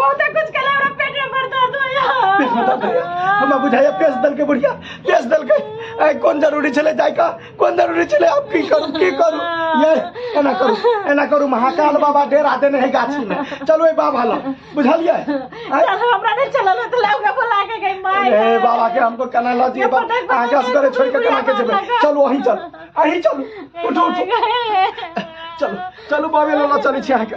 बहुत कुछ कला हमरा पेट में भर दर्द पेश बता दे होया हमरा बुझाइया पेश दल के बुढ़िया पेश दल के आइ कोन जरूरी छले जाय का कोन जरूरी छले आप की करू की करू ये एना करू एना करू महाकाल बाबा डेरा देने है गाछी में चलो ए बाबा ला बुझलिए आइ? चल हमरा नहीं चलल त लौका बोला के गई माय ए बाबा के हमको कना ला दिए बा आगे असगरे छोड़ के कना के जेबे चलो वहीं चल अहीं चल उठो उठो चलो चलो बाबे ला चली छी अहाँ के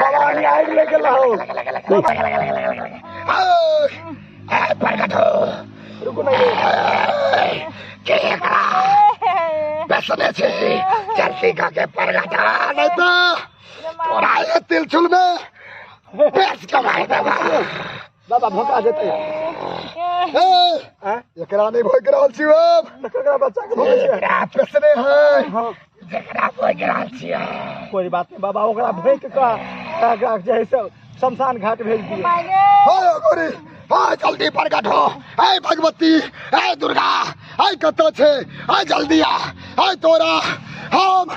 भवानी आग ले गेल हो प्रकट हो रुकू ना ये के एकरा बेसने छी चलती का के प्रकट हो, नहीं तो तोरा ये तिलचुल में बेच के मार देबा बाबा भोका देते हैं एकरा नहीं भोग रहल छी अब एकरा बच्चा के भोगे छै एकरा पेसने है एकरा भोग रहल छी कोई बात नहीं बाबा ओकरा भोग के का का जे है से शमशान घाट भेज दिए हाय गोरी हाय जल्दी प्रकट हो हाय भगवती हाय दुर्गा हाय कतऽ छै हाय जल्दी आ हाय तोरा हम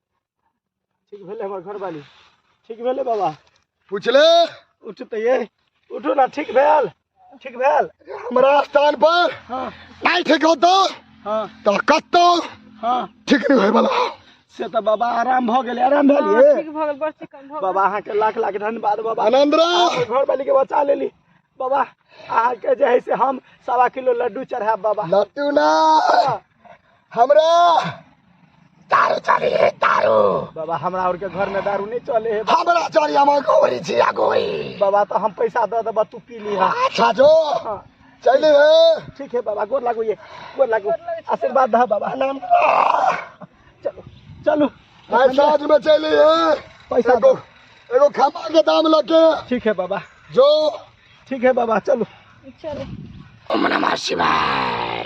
ठीक भेलै हमर घरवाली ठीक भेलै बाबा पूछले उठतै उठू ना ठीक भेल ठीक भेल हमरा स्थान पर हाँ नहीं ठीक हो तो हाँ तो कतो हाँ ठीक नहीं होए वाला से तऽ बाबा आराम भऽ गेलै आराम हाँ, भेलियै ठीक भऽ गेल बड़ चिकन भऽ गेल बाबा अहाँके लाख लाख धन्यवाद बाबा आनंद रहो अहाँके घरवाली के बचा लेली बाबा अहाँके जे है से हम सवा किलो लड्डू चढ़ायब बाबा लट्टू ना हमरा दारू चली है दारू बाबा हमरा और के घर में दारू नहीं चले है हमरा चली हम गोरी छी आ गोरी बाबा तो हम पैसा दे देबा तू पी ली अच्छा जो हाँ। चली है ठीक है बाबा गोर लागो ये गोर लागो आशीर्वाद दा बाबा नाम चलो चलो आज साँझ में चली है पैसा एगो दो एगो खमा के दाम लगे ठीक है बाबा जो ठीक है बाबा चलो चलो ओम नमः शिवाय